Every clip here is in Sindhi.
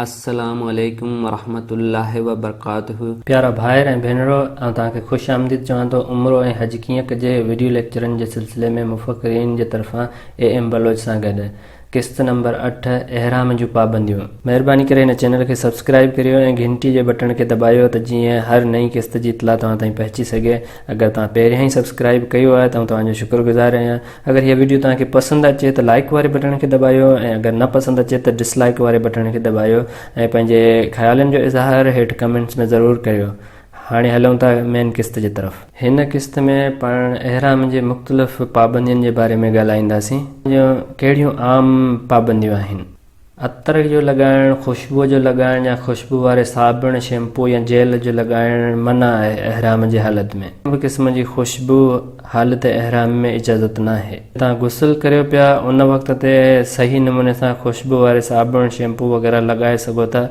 السلام عليڪم ورحمة الله وبرڪاته. پيارا ڀائر ۽ ڀينرو آئون توهان کي خوش آمديد چوان ٿو عمرو ۽ حج ڪيئن ڪجي وڊيو ليڪچرن جي سلسلي ۾ مفڪرين جي طرفان اي ايم بلوچ سان گڏ قسط نمبر اٺ احرام جون پابنديون مهرباني ڪري هن چينل کي سبسڪرائب ڪريو ۽ گهنٽي جي بٽڻ کي دٻايو ته جيئن هر نئين قسط جي اطلاع توهان تائين پهچي سگهي اگر توهان پهريان ئي سبسڪرائب ڪيو آهي ته آئون توهان جو شڪر گذار آهيان اگر هيء وڊيو توهان کي پسند اچي ته لائيڪ واري بٽڻ کي دٻايو ۽ اگر نه پسند اچي ته ڊس لائيڪ واري بٽڻ کي دٻايو ۽ پنهنجي خيالن جو اظهار هيٺ ڪمينٽس ۾ ضرور ڪريو هاڻي هلون ٿا مين قسط جي طرف. هن قسط ۾ پاڻ احرام جي مختلف پابندين جي باري ۾ ڳالهائينداسين. جون ڪهڙيون عام پابنديون آهن. عطر جو لڳائڻ، خوشبوء جو لڳائڻ يا خوشبوء واري صابڻ، شيمپو يا جيل جو لڳائڻ منع آهي، احرام جي حالت ۾. ڪنهن به قسم جي خوشبوء حالت احرام ۾ اجازت ناهي. توهان غسل ڪريو پيا، ان وقت تي صحيح نموني سان خوشبوء واري صابڻ، شيمپو وغيره لڳائي سگهو ٿا،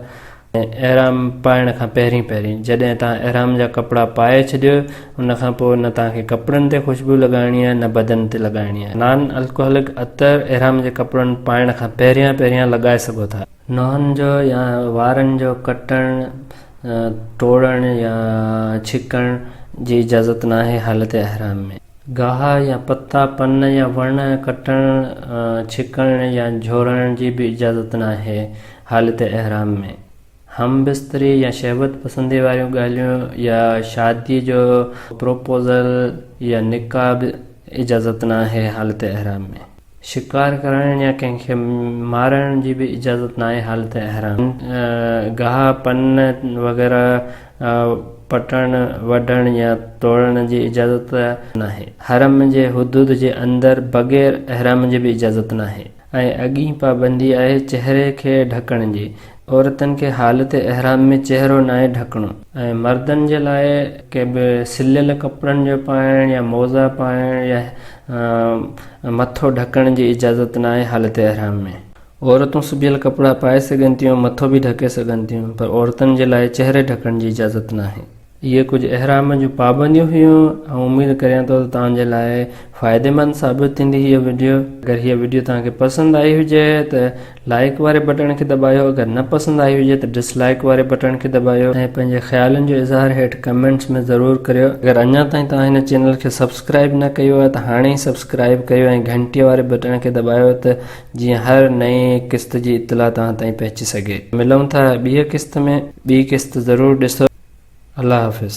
احرام پائڻ کان پهرين پهرين جڏهن توهان احرام جا ڪپڙا پائي ڇڏيو ان کان پوء نه توهان کي ڪپڙن تي خوشبو لڳائڻي آهي نه بدن تي لڳائڻي آهي. نان الڪوهلڪ عطر احرام جي ڪپڙن پائڻ کان پهريان پهريان لڳائي سگهو ٿا. ننهن جو يا وارن جو ڪٽڻ، ٽوڙڻ يا ڇڪڻ جي اجازت ناهي حالت احرام ۾. گاهه يا پتا، پن يا وڻ ڪٽڻ، ڇڪڻ يا جهورڻ جي به اجازت ناهي. حالت احرام ۾ هم بستري يا شهوت پسندي واريون ڳالهيون يا شادي جو پروپوزل يا نڪاح به اجازت ناهي حالت احرام ۾ شڪار ڪرڻ يا ڪنهن کي مارڻ جي به اجازت ناهي حالت احرام ۾ گاهه پن وغيره پٽڻ وڍڻ يا توڙڻ جي اجازت ناهي حرم جي حدود جي اندر بغير احرام جي به اجازت ناهي. ۽ اڳين پابندي آهي چهري کي ڍڪڻ جي. عورتن کي حالت احرام ۾ چهرو ناهي ڍڪڻو. ۽ مردن جي لاء ڪي به سليل ڪپڙن جو پائڻ يا موزا پائڻ يا مٿو ڍڪڻ جي اجازت ناهي حالت احرام ۾. عورتون سبيل ڪپڙا پائي سگهن ٿيون مٿو به ڍڪي سگهن ٿيون پر عورتن جي لاء چهري ڍڪڻ جي اجازت ناهي. اهي ڪجهه احرام جون پابنديون هيون آئون اميد ڪريان ٿو ته توهان جي لاء فائديمند ثابت ٿيندي هيء وڊيو اگر هيء وڊيو توهان کي پسند آئي هجي ته لائيڪ واري بٽڻ کي دٻايو اگر نه پسند آئي هجي ته ڊس لائيڪ واري بٽڻ کي دٻايو ۽ پنهنجي خيالن جو اظهار هيٺ ڪمينٽس ۾ ضرور ڪريو اگر اڃا تائين توهان هن چينل کي سبسڪرائيب نه ڪيو آهي ته هاڻي ئي سبسڪرائيب ڪيو ۽ گهنٽيء واري بٽڻ کي دٻايو ته جيئن هر نئين قسط جي اطلاع توهان تائين پهچي سگهي. ملون ٿا ٻيء قسط ۾. ٻي قسط ضرور ڏسو. الله حافظ.